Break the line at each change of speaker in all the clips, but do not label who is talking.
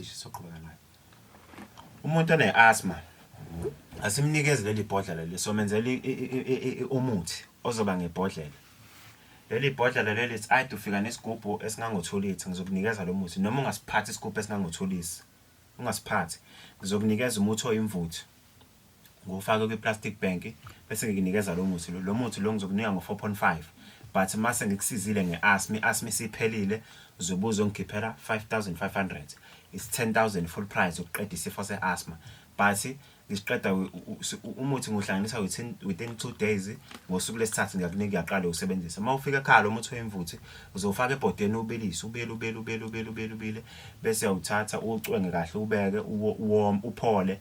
soqhubeka nayo umuntu one-asthma asimnikezi leli bhodlela leli somenzela umuthi ozoba ngebhodlela leli bhodlela leli it's aid ufika nesigubhu esingangothulithi ngizokunikeza lo muthi noma ungasiphathi isigubhu esingangothulithi ungasiphathi ngizokunikeza umuthi oyimvuthu ngufake kwi-plastic bank bese ngikunikeza lo muthi lo muthi lo ngizokunika ngo-4.5 but mase ngikusizile nge-asmi asmi siphelile zobuzo ngikhiphela 5500 is 10000 full price ukuqeda isifo se-asma but ngisiqeda umuthi ngiwuhlanganisa within within 2 days ngosuku lesithathu ngiyakunika uyaqala usebenzisa uma ufika ekhaya lo muthi oyimvuthi uzowufaka ebhodeni ubilise ubile ubile ubile ubile ubile ubile bese uyawuthatha uwucwenge kahle ubeke uwom uphole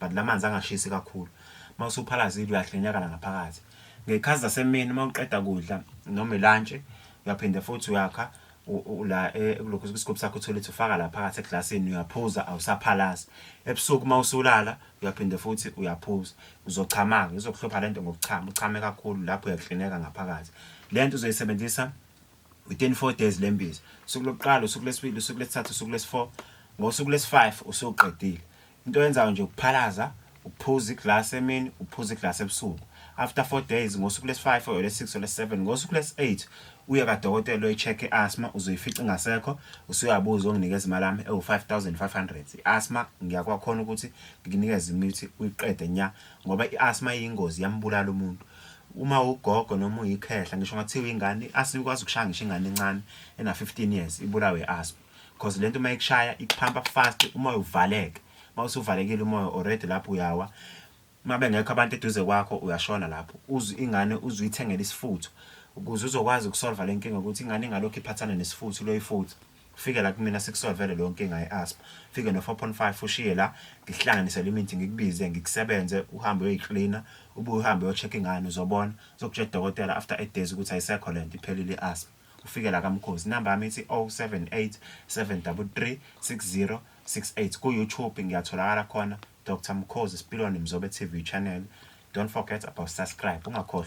but la manzi angashisi kakhulu uma usuphalazile uyahlenyakala ngaphakathi ngey'khathi zasemini uma uqeda kudla noma ilantshi uyaphinde futhi uyakha la eh, kulokhu isigubhu sakho uthole ukuthi ufaka la phakathi eglasini uyaphuza awusaphalazi ebusuku uma usulala uyaphinde futhi uyaphuza uzochama-ke izokuhlupha le nto ngokuchama uchame kakhulu lapho uyaklineka ngaphakathi le nto uzoyisebenzisa within four days le mbiza usuku lokuqala usuku lesibili usuku lesithathu usuku lesi-four ngosuku lesi-five usuqedile Into oyenzayo nje ukuphalaza, ukuphuza iglass emini, ukuphuza iglass ebusuku. After 4 days, ngosuku lesi 5 or lesi 6 or lesi 7, ngosuku lesi 8, uye kadokotela uyoyi check i-asthma, uzoyifica ingasekho, usuyabuza onginikeza imali yami ewu 5500. I-asthma ngiyakwakhona ukuthi ngikunikeze imithi uyiqede nya ngoba i-asthma iyingozi yambulala umuntu. uma ugogo noma uyikhehla ngisho ngathiwa ingane i-asthma ikwazi ukushaya ngisho ingane encane ena-15 years ibulawe i-asthma because lento uma ikushaya ikuphampa fast umoya uvaleke uma usuvalekile umoya already lapho uyawa uma bengekho abantu eduze kwakho uyashona lapho uzwe ingane uzwe ithengela isifutho ukuze uzokwazi ukusolva le nkinga ukuthi ingane ingalokhu iphathana nesifutho loyifutho fike la kumina sikusolvele leyo nkinga ye-asthma fike no-4.5 ushiye la ngihlanganise le mithi ngikubize ngikusebenze uhambe uyoyiklina ubuye uhambe uyocheck ingane uzobona uzokutshela udokotela after eight days ukuthi ayisekho le nto iphelile i-asthma ufike la kamkhosi number yami ithi 078 733 6068 ku YouTube ngiyatholakala khona Dr Mkhosi Sipilwane Mzobe TV channel don't forget about subscribe ungakhohlwa